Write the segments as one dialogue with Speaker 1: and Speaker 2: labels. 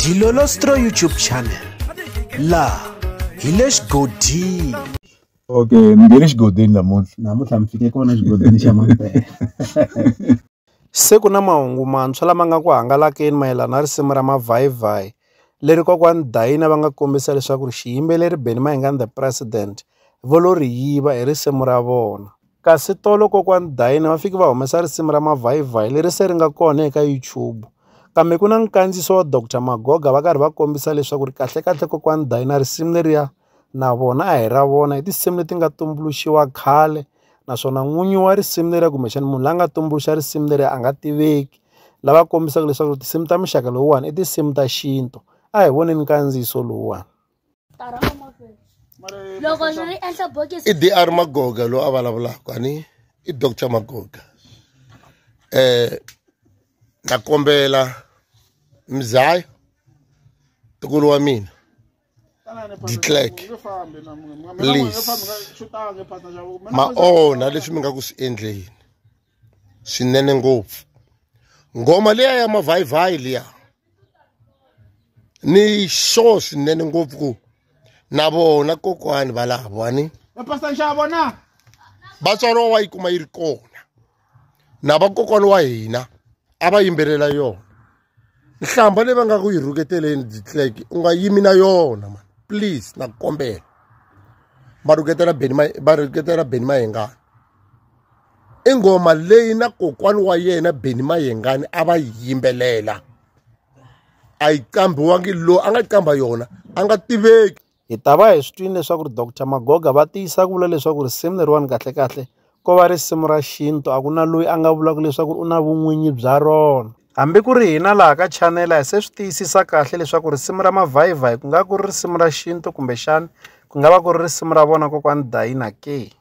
Speaker 1: dilolostro youtube channel laha hi le xigodini okay
Speaker 2: ni nge le xigodini namuntlha namuntlha mi fike kona xigodini xa mampela
Speaker 1: se ku na mahungu mantshwa lama nga ku hangalakeni mayelana na risimu ra mavhayivhayi leri kokwani dayina va nga kombisa leswaku ri xiyimbeleri benny mayingani the president vo lo ri yiva hi risimu ra vona Kasi tolo kokwani Dayini va fiki va humesa risimu ra mavhayivhayi leri se ri nga kona eka YouTube kambe ku na nkandziyiso wa Doctor Magoga va karhi va kombisa leswaku ri kahlekahle kokwani Dayina risimu leriya na vona a hi ra vona i tinsimu leti nga tumbuluxiwa khale naswona n'winyi wa risimu leriya kumbexana munhu la nga tumbuluxa risimu leriya a nga tiveki lava kombisaka leswaku tinsimu ta muxaka lowuwani i tinsimu ta xintu a hi voneni nkandziyiso lowuwani.
Speaker 3: loko ndzi ri endla bokisi i dr magoga loyi a vulavulaka ani i doctor magoga eh na kombela mzayo tukulu wa mina declerk please ma onha leswi mi nga ku swi endleni swinene ngopfu ngoma liya ya mavhayivhayi liya ni sure swinene ngopfu ku na vona kokwani valavo ani vatswari wa yi kuma yi ri kona na vakokwana wa hina a va yimbelela yona nhlamba leyi va nga ku yi rhuketeleni ditlek u nga yimi na yona mani please na ku kombela va rhuketela beni va rhuketela beni mayengani i nghoma leyi na kokwani wa yena beni mayengani a va yi yimbelela a yi qambiwangi loyi a nga qamba yona a nga tiveki Hi ta va hi swi
Speaker 1: twile leswaku ri Doctor Magoga va tiyisa ku vula leswaku risimu leriwani kahlekahle ko va risimu ra xintu a ku na loyi a nga vulaka leswaku u na vun'winyi bya rona hambi ku ri hina laha ka chanela hi se swi tiyisisa kahle leswaku risimu ra mavhayivhayi ku nga ku ri risimu ra xintu kumbexani ku nga va ku ri risimu ra vona kokwani dayina ke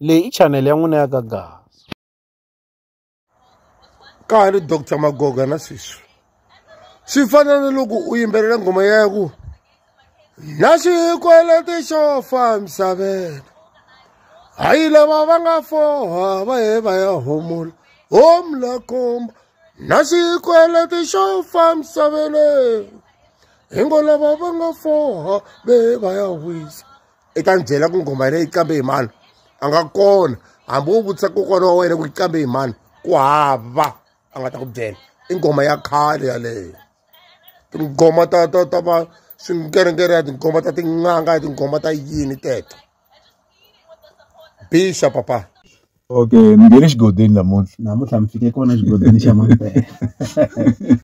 Speaker 1: Leyi i channel ya n'wina ya ka Gaza.
Speaker 3: Ka ha ri Doctor Magoga na sweswi. Swi fana na loko u yimbelela nghoma ya ku na xikweleti xo fa misaveni. Hayi lava va nga foha va he va ya homola home la komba na xikweleti xo fa misaveni. Hi ngo lava va nga foha va he va ya wisa. i ta ni byela ku nghoma yena yi qambe hi mani a nga kona hambi u vutisa kokwana wa wena ku yi qambe hi mani ku hava a nga ta ku byela i nghoma ya khale yaleyo tinghoma ta ta ta va swinkerengere ya tinghoma ta tin'anga ya tinghoma ta yini teto bixa papa okay
Speaker 2: mi nge le xigodini namuntlha namuntlha mi fike kona xigodini xa mampela